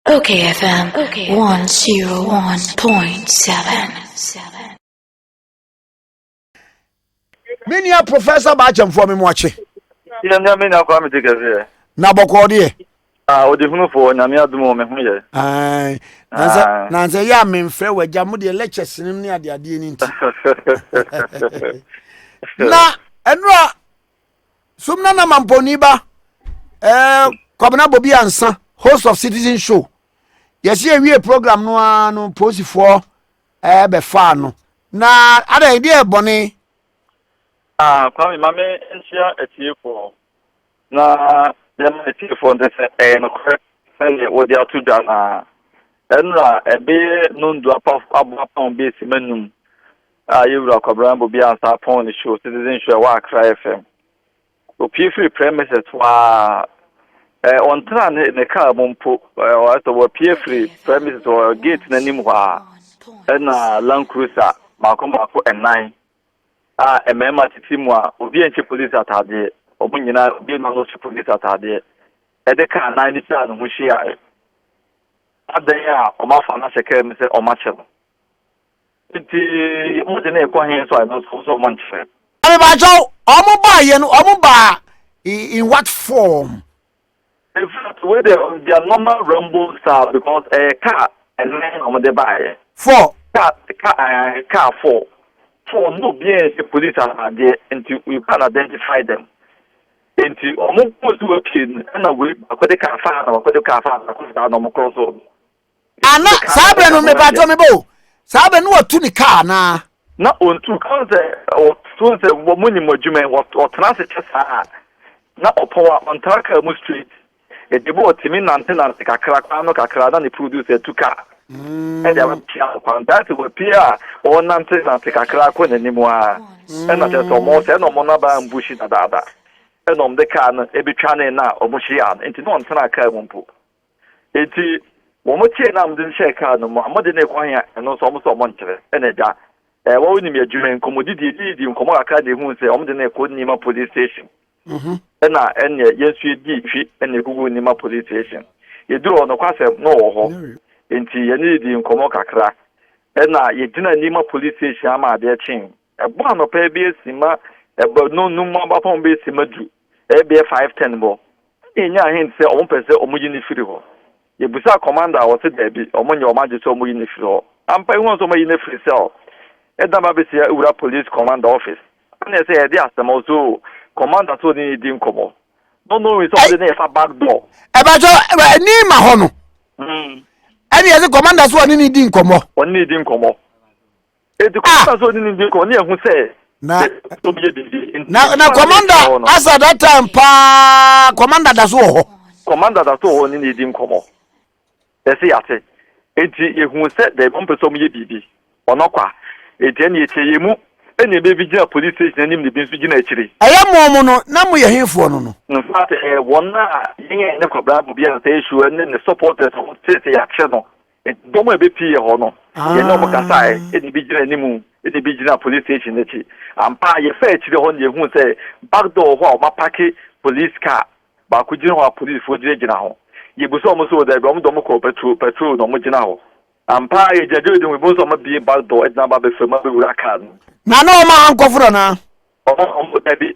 Okay FM 101.7 me nua professor baakyɛmfoɔ me mu akye yɛ nyame na kwa mete kɛseɛ na bɔkɔɔ deɛ ɔde hunufoɔ nyame adomu me ho yɛ nansɛ yɛ a memfrɛ wagya mo deɛ lɛkyɛ senem ne adeadeɛ no nti na ɛno a Sum na nam ampɔnni ba ɛɛ Kwabena Bobi Ansa host of Citizen Show yɛsi ewie program no ara no polisifoɔ ɛɛ bɛfaa no na adan ebi yɛ bɔne. Ah, Kwame, ma me nhyia atiefoɔ na yɛma atiefoɔ nte sɛ ɛyɛ nokorɛ sɛdeɛ wɔde ato dwa no a ɛnora ɛbɛyɛ nondua abɔ apam bɛsi m'anum A Yɛn Wura Kwabena Bobia Ansah pɔn ne show Citizen Show a ɛwɔ Accra FM. Opue firi premises hɔ ara, ɛɛ ɔntena ne ne car mu mpo, ɛɛ ɔyɛ sɛ wapue firi premises hɔ gate n'anim hɔ ara. Ɛna Land Cruiser mmaako mmaako nnan a mmarima tete mu a obi nhyɛ police ataadeɛ, wɔn nyinaa obi ma no hyɛ police ataadeɛ, ɛde car nan no twaa ne ho hyiaeɛ. Adɛn a wɔafa no ahyɛ car mu sɛ wɔakyɛ no? Nti mo de ne kɔ he so a no so so mo nkyerɛ. Mebakyɛw, ɔmo baa yɛ no, ɔmo baa in what form? In fact, wei de their normal ramble style because ɛyɛ eh, car ɛnan na ɔmo de baa yɛ. Four. Car car eh, car four. Four no obi yɛn hyɛ police ataadeɛ nti you can identify them. Nti ɔmo kɔɔ so wɔ pie no ɛna wei baako de car faa na baako de car faa na kɔɔ so na ɔmo kɔɔ so. Ah, na saa bere no mepatɔ mebɔ o. Saa bere no watu ne kaa anaa? Na ontu ka sɛ ɔto sɛ wɔ mo nyim adwuma yi ɔtena ase kyɛ saa a na ɔpɔw a ɔntaa kaa mu straight. Ɛde bɔ ɔtumi nante nante kakra kwan no kakra na ne producer tu kaa ɛde abɛpia no kwan. That is wapie a ɔnante nante kakra kɔ n'anim a ɛna kyerɛ sɛ ɔmo sɛ ɛna ɔmo naba ambushi dadaada ɛna ɔmo de kaa no ebetwa ne na ɔmo hyiaa no nti na ɔntena kaa mu mpo. Enti wɔkyee no a wɔde no hyɛɛ kar no mu a wɔde no rekɔ he a, ɛno nso wɔn sɛ wɔnkyerɛ. Ɛna agya a ɛwɔ wonim adwuma yi nkɔmmɔdidi edididii nkɔmmɔ kakra na ehuu sɛ wɔde no rekɔ Nima Police Station. Mhm. Ɛna ɛneɛ yɛn nso yɛdii twi na yɛkɔguu Nima Police Station. Yɛduru hɔ nokwasɛm na ɔwɔ hɔ. Enti yɛne no dii nkɔmmɔ kakra. Ɛna yɛgyina Nima Police Station ama adeɛ kyee. Ɛbɔ anɔpa ebi esi ma ɛbɔ no no mu abapɔn bɛ esi ma du ɛbɛyɛ five ten bɔ ɛna yɛnyaa hint sɛ wɔn pɛ sɛ wɔn yi no firi hɔ yɛbusaa commander a ɔse daabi wɔn nyɛ wɔn agye sɛ wɔn yi no firi hɔ ampa ehu nso wɔn ayi no firi cell ɛdan ba bɛsi awura police commander office ɛna ɛsɛ yɛde asɛm ɔso commander so ne di nkɔmɔ no no wi sɛ ɔde ne yɛfa back door ɛbɛtɔ ɛni ma hɔ no ɛna yɛde commander so ɔne ne di nkɔmɔ ɔne ne di nkɔmɔ Eti kɔ ah! na so ni ndi kɔ ne ehu sɛ. Na na na kɔmanda asa that time paa kɔmanda da so wɔ hɔ. Kɔmanda da so wɔ hɔ ne na edi nkɔmɔ. Ɛsɛ yate. Eti ehu sɛ dɛ wɔn pɛ sɛ wɔn yɛ biribi. Ɔno kwa. Eti ɛna ekyɛ yɛ mu ɛna ebe bi gyina police station anim na ebi nso gyina akyire. Ɛyɛ mo mo no na mo yɛ henfoɔ no no. In fact ɛɛ wɔn a yɛn a yɛne kɔbra bobi a nsa esu ɛne ne supporters a wɔn sɛ sɛ yɛakyɛ no. Dɔm a ebepii yɛ hɔ no, yɛne wɔn kasae, ah. ɛna ebi gyina anim, ɛna ebi gyina police station akyi. Ampa, yɛfɛ akyire hɔ no, yɛhuu sɛ back door hɔ a wɔapake police car baako gyina hɔ a polisifoɔ gyinagyina ho. Yɛbisa wɔn sɛ wɔdabi, wɔn de wɔn kɔɔ patrol, patrol na wɔn gyina hɔ. Ampa, yɛgyina gyina de ho, ebi nso wɔn abie back door, ɛde n'aba abɛfam abɛwura car no. Na na wɔn a wɔn kɔforo anaa? Wɔn a wɔn dabi.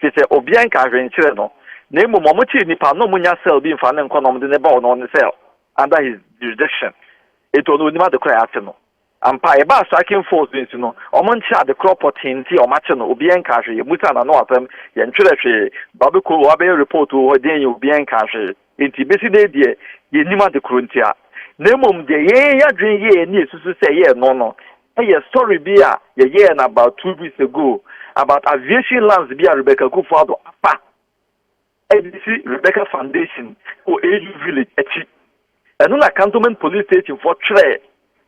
Te sɛ obia nka hwee nkyerɛ no, na mmom wɔn kyere nipa no ɔmo nya cell bi nfa no nkɔ na ɔmo de no ba ɔno ɔne cell under his jurisdiction enti ɔno onim adekorɔ a yɛakye no ampa ɛbaa striking force bi nso no ɔmo nkyerɛ adekorɔ pɔtee nti a ɔmo akye no obia nka hwee yɛmusa na no asɛm yɛntwerɛ hwee ba bɛkɔ wɔ abɛyɛ report wɔ hɔ deɛn yɛ obia nka hwee Enti besi nnɛ yi deɛ, yennim ade koro ntia, na mmom deɛ yɛn adwene yɛ ani esusu sɛ ɛyɛ ɛno no yɛ story bi a yɛyɛɛ no about two weeks ago about aviation lands bi a Rebecca Kufuor-Addo afa de asi Rebecca Foundation wɔ AU Village akyi. Ɛno na Cantonment Police Station foɔ twerɛɛ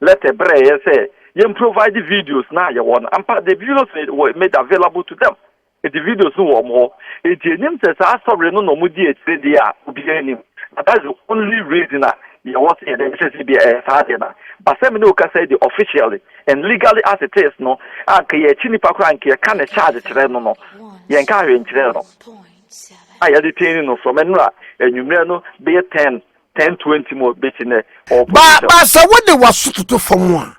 letter brɛɛeɛ sɛ yɛn provide videos no a yɛwɔ no. Ampa, the videos were made available to them. Edi videos no wɔ wɔn hɔ. Edi anim sɛ saa asɔre no na wɔdi akyire deɛ a obiara nnim. Na that's the only reason a yɛwɔ sɛ yɛde bɛhyɛ sɛ ebia ɛyɛ saa deɛ no a. But sɛ me ne wo kasa yi deɛ officially and legally as it is no, anka yɛakyi nipa koraa anka yɛka ne charge kyerɛ no no, yɛnkaa hwee nkyerɛɛ no a yɛde tane no from ɛnora anwummerɛ no bɛyɛ ten, ten twenty mu bɛsi nnɛ, ɔwɔ position. Ba, ba sɛ wode w'aso toto fam a,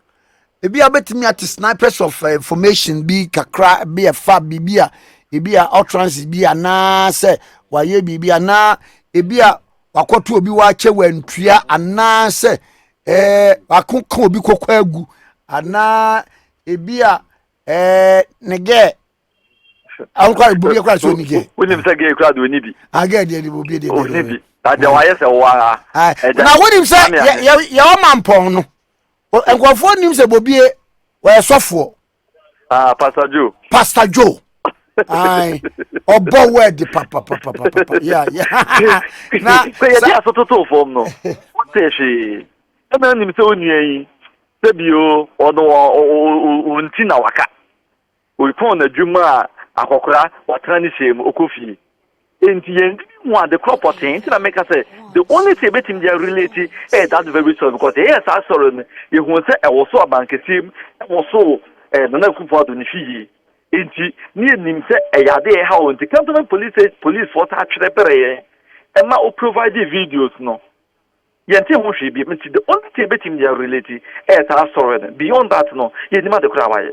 Ebi a wobɛtumi ate snipers of eh, information bi kakra bi ɛfa biribi a ebi a utterances bi anaasɛ wayɛ biribi anaa ebi a wakɔto obi wakyɛ wantua anaasɛ ɛɛ eh, wako ka obi kɔkɔ agu anaa ebi a ɛɛ eh, ne gɛɛ awokora bobi akora sɛ ɔni gɛɛ wonim sɛ gɛɛ kora de ɔni bi agɛɛ deɛ de bobi deɛ ɔni bi na deɛ wayɛ sɛ wo ara na wonim sɛ yɛwɔ mampɔn no nkurɔfoɔ nim sɛ bobie wɔyɛ sɔfoɔ ah pastor joe pastor joe ayi ɔbɔ wɛɛdi papapapapapa ya ya na sɛ yɛde asototo fam no wotɛ hwee ɛna nim sɛ onua yi sɛbi o ɔno wɔn ti na waka Ɔtɔn n'adwam maa akɔkora, watena ne hyɛn mu, ɔkɔ fie. Enti yɛn de bi hu ade korɔ pɔtee, nti na meka sɛ the only thing yɛbɛtumi de a relate yɛ that very story because yɛyɛɛ saa sɔre no yɛhuu sɛ ɛwɔsoo Abankɛseɛ mu, ɛwɔsoo eh, Nana Akufo Addo ne fie yie. Enti ne yɛnim sɛ ɛyɛ ade a ɛhaw nti Cantonment Police Policefoɔ taa twerɛ brɛ yɛn ɛma wo provide videos no. Yɛntee ho hwee biom nti the only thing yɛbɛtumi de a relate ɛyɛ saa story no beyond that no yɛnnim ade koraa a wayɛ.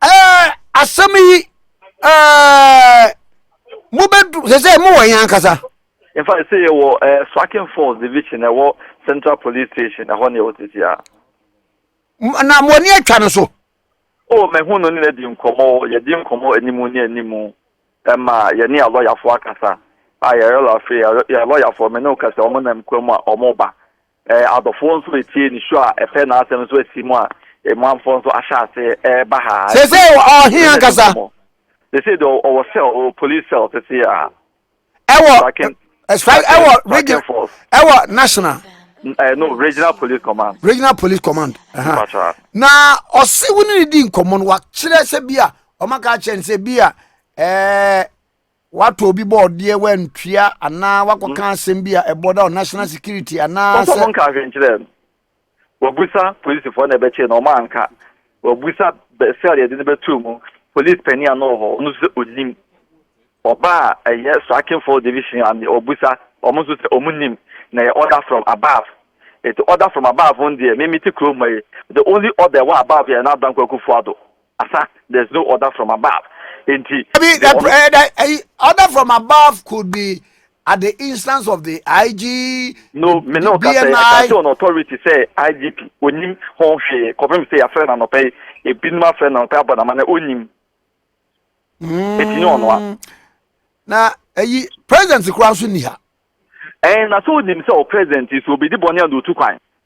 Eh, asɛm yi eh, mobɛdu sɛ sɛ mowɔ yɛn ankasa in fact sɛ yɛwɔ eh, Swakin Falls division ɛwɔ Central Police Station ɛhɔ ne yɛwɔ tete a na mo ani atwa no so o mahu no ne no adi nkɔmmɔ yɛdi nkɔmmɔ anim ne anim Ɛma yɛne yɛn lɔyafoɔ akasa. A yɛn yɛlɔ afei yɛn lɔyafoɔ me ne wo kasa wɔn nam kwa mu a wɔn ba. Ɛɛ adɔfoɔ nso etie ne su a ɛpɛ n'asɛm nso asi mu a emuamfoɔ nso ahyɛ ase ɛɛba ha. Sese ɔhe ankasa? Sese de ɔwɔ cell ɔwɔ police cell sese a. Ɛwɔ strike ɛwɔ region ɛwɔ national. Ɛɛ no regional police command. Regional police command. Na ɔsi wo ne ne di nkɔmɔ no wakyerɛ sɛ bi a wɔaka akyerɛ no sɛ bi a ɛɛ watɔ obi bɔ ɔdeɛ wantua anaa wakɔka mm. asɛm bi a ɛbɔ da national mm. security anaa sɛ. nka ahwenkyerɛ no wabusa polisifoɔ na ɛbɛkyɛ na ɔma anka wabusa sɛl yɛde no bɛtuo mu polisi panin a na ɔwɔ hɔ ɔno nso sɛ ɔnim ɔba a ɛyɛ striking for division ame ɔbusa ɔmo nso sɛ ɔmo nim na ɛyɛ order from above ɛti order from above no deɛ mimi ti kurom ma yi the only order wɔ above yɛ na adanko akufoɔ ado Asa, there's no order from above. Enti, the, the, order, uh, the uh, order from above could be at the instance of the IG, no, the, me no BNI. Say, I can on authority say IGP, onim ho hwee, kɔpem sɛ yɛafrɛ no anɔpɛ yi, ebinom afrɛ no anɔpɛ abɔ nama na onim. Eti ne ɔno a. Na ayi president kura nso ni ha. Ɛn na so onim sɛ o president so obedi bɔne a na otu kwan.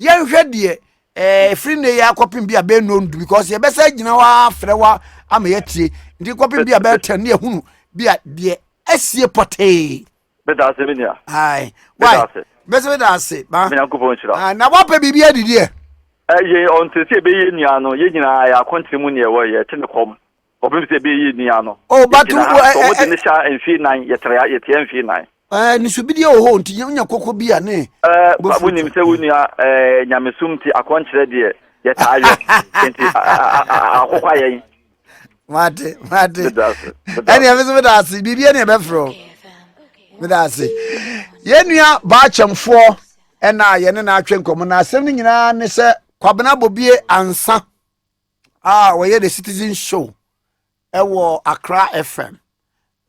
yɛnhwɛ deɛ ɛfiri nnɛ yi akɔpem bi a bɛyɛ nnɔɔ ndu because yɛbɛsɛ agyina hɔ afrɛ wa ama yɛatie nti kɔpem bi a bɛyɛ tɛn ne yɛhunu bi a deɛ asie pɔtee bɛda ase me nua ae wai bɛsɛ bɛda ase ba menyankopɔn nhyira na woapɛ biribi adidiɛ yɛn ɔntɛ sɛ ɛbɛyɛ nua no yɛ nyinaa yɛ akontere mu ne ɛwɔ yɛ te ne kɔm Kɔpem sɛ ɛbɛyɛ yie ni ara no. Oh but wo ɛ ɛ. Sɛ ɔmo de ne hyɛ mfie nnan yɛ trea yɛ tea mfie nnan. Ɛɛ ne subideɛ wɔ hɔ o nti yɛ nya koko bi a ne bo furu. Wo nim sɛ wo nua ɛɛ nyamesum nti akɔnkyerɛ deɛ yɛ taa yɔ nti akokwa yɛn. Mate mate. Meda ase. Ɛni ɛmi so meda ase biribi ɛni ɛbɛ foro. Meda ase. Yɛ nua baakyɛmfoɔ ɛna yɛ ne na atwe nkɔmɔ na asɛm ne nyinaa ne sɛ kwabena bobie ansa. a ɔyɛ the citizen show ɛwɔ accra fm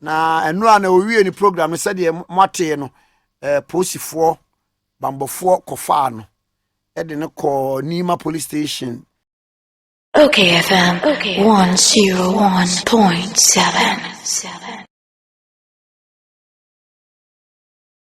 na ɛno a na owie ne program no sɛdeɛ moatee no eh, polisifoɔ bambɔfoɔ kɔfaa no ɛde no kɔɔ nima police station Okay FM okay. 101.7